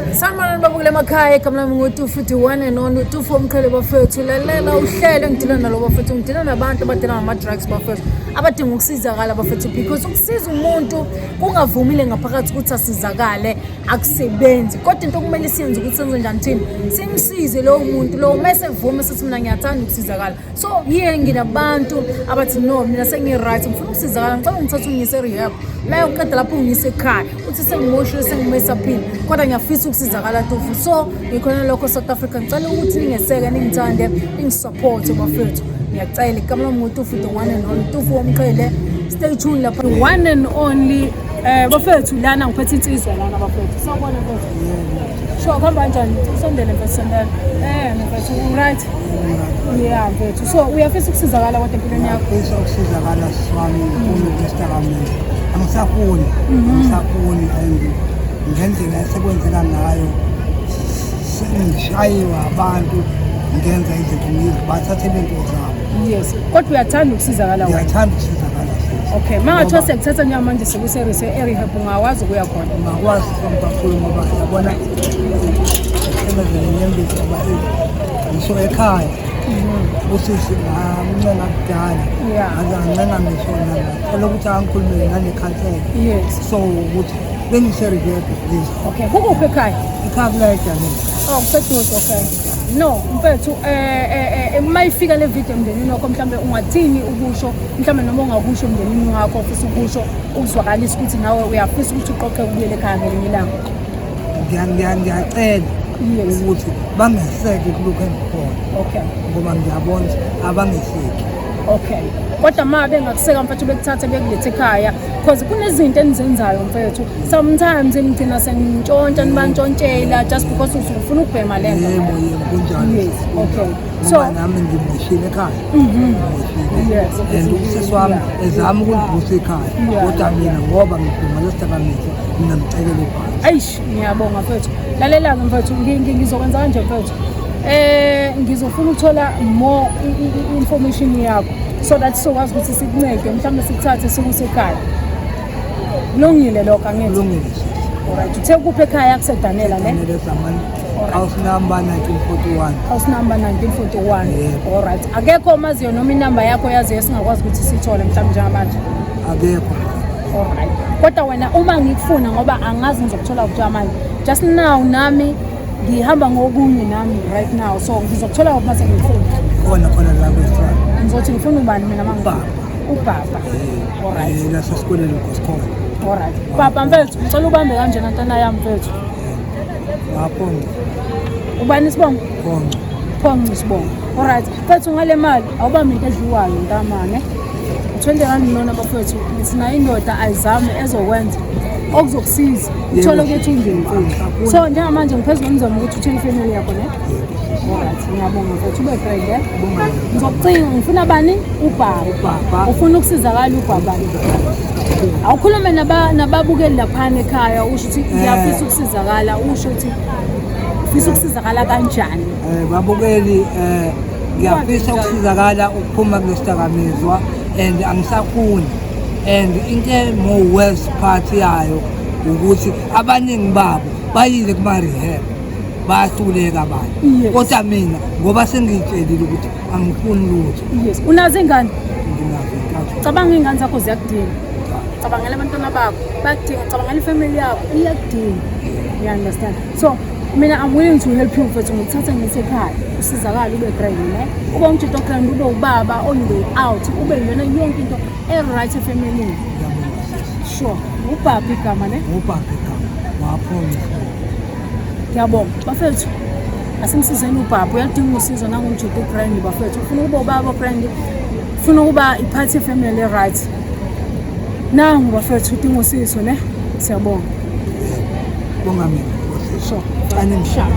Sanibonani baba kule makhaya igama lami nguTufu the one and only Tufu omqhele bafethu lalela uhlelo ngidila nalo bafethu ngidila nabantu abadila ngama-drugs bafethu abadinga ukusizakala bafethu because ukusiza umuntu kungavumile ngaphakathi ukuthi asizakale akusebenzi kodwa into okumele siyenze ukuthi senze njani thina simsize lowo muntu lowo uma sevume sethi mina ngiyathanda ukusizakala so yiye nginabantu abathi no mina sengi-right ngifuna ukusizakala ngicela ngithatha ungiyise rehab la uqeda lapho ungiyise ekhaya uthi sengimoshile sengimesaphile kodwa ngiyafisa ukusizakala tofu so ngikhona lokho south africa ngicela ukuthi ningeseke ningithande ningisupporte bafethu ngiyacela ikamela mngutufu the one and only tufu womqhele stay tuned lapha the one and only um bafethu lana ngiphethe insizwa lana bafethu sawubona mfethu Sho kuhamba kanjani? Usondele mfethu sondela. Eh mfethu right. Yeah mfethu. So uyafisa ukusizakala kodwa empilweni yakho? Uyafisa ukusizakala swami umuntu wesitakamela. Angisafuni. Mhm. Angisafuni ayindi. Ngendlela esekwenzeka ngayo sengishayiwa abantu ngenza izinto ngizi bathathe lento zabo. Yes. Kodwa uyathanda ukusizakala wena. Uyathanda ukusizakala. Okay, mangathiwa sekuthatha nyama manje sekuse-rehab ungakwazi ukuya khona? Ungakwazi kakhulu ngoba yabona emevenenyembezi ngoba ngisho ekhaya usisi ngamncenga kudala angancenga ngisho ngathola ukuthi angikhulumele nanekhansela so ukuthi bengiserivebe okay kukuphi ekhaya ekhaya kulayejanini oh kuseduze okay no mfethu um eh, uma eh, eh, ifika le video emndenini wakho mhlawumbe ungathini ukusho mhlawumbe noma ungakusho emndenini wakho ofisa ukusho ukuzwakalisa ukuthi nawe uyafisa ukuthi uqoqe ukubuyela ekhaya ngelinye ilanga ngiyacela ukuthi bangeseke kulokhu engikhona okay ngoba ngiyabona abangeseki okay kodwa ma bengakuseka mfethu bekuthathe bekulethe ekhaya because kunezinto enizenzayo mfethu sometimes nigcina sengintshontsha nibantshontshela just because usufuna ukubhema le nto yebo yebo kunjalo yes okay ngoba nami ngimoshile ekhaya mhm. ngimoshile and usisi wami ezama ukulibhusa ekhaya kodwa mina ngoba ngiduma lesidakamizwa mina ngicekele phansi eish ngiyabonga mfethu lalela-ke mfethu ngizokwenza kanje mfethu eh ngizofuna ukuthola more information yakho so that sizokwazi ukuthi sikuncede mhlawumbe sikuthathe sikuse ekhaya kulungile lokho angithi kulungile right uthe kuphi ekhaya kusedanela ne house number 1941 house number 1941 yeah. all right akekho omaziyo noma inamba yakho yaziyo esingakwazi ukuthi sithole mhlawumbe njengamanje akekho all right kodwa wena uma ngikufuna ngoba angazi ngizokuthola kuthiwa manje just now nami ngihamba ngokunye nami right now so ngizokuthola uma sengifuna khona khona la kwesithiwa ngizothi ngifuna ubani mina mangibaba ubaba eh, all right eh, nasesikoleni ngosikhona all right baba mfethu ngicela ubambe kanjena ntana yami mfethu aphonco ubani isibongo phonco phonco isibongo olright fethu ngale mali awubambi into edliwayo ntamane u-twenty rand nona bafethu sinayo indoda ayizame ezokwenza okuzokusiza uthole ukuthi ungenkulu so njengamanje ngiphezulu ngizoma ukuthi uthole ifamily yakho ne olright ngiyabonga fethu ube brende ngizokucinga ngifuna bani ubaba ufuna ukusizakala ubaba awukhulume nababukeli laphana ekhaya usho ukuthi eh. ngiyafisa ukusizakala usho ukuthi ufisa ukusizakala kanjani um babukeli um ngiyafisa ukusizakala ukuphuma kulesidakamizwa and angisafuni and into more worse part yayo ukuthi abaningi babo bayile kuma-rehab bayahluleka abantu kodwa mina ngoba sengiyitshelile ukuthi angifuni lutho yes unazo ingane nginazo intathu cabanga ingane zakho ziyakudinga cabangela abantwana bakho bakudinga cabangela ifamily yakho iyakudinga you understand so mina i'm willing to help you mfethu ngikuthatha ngisekhaya usizakala ube grand ne ube umjito grand ube ubaba on the out ube yona yonke into e-right efamilini sure ubhabhi igama ne ubhabhi igama waphonye ngiyabonga bafethu asimsizeni ubhabha uyadinga usizo nangumjuda ubrand bafethu ufuna ukuba ubaba brand ufuna ukuba iphathi efamily right nangu bafethu udinga usizo ne siyabonga bonga mina so kanye mshaba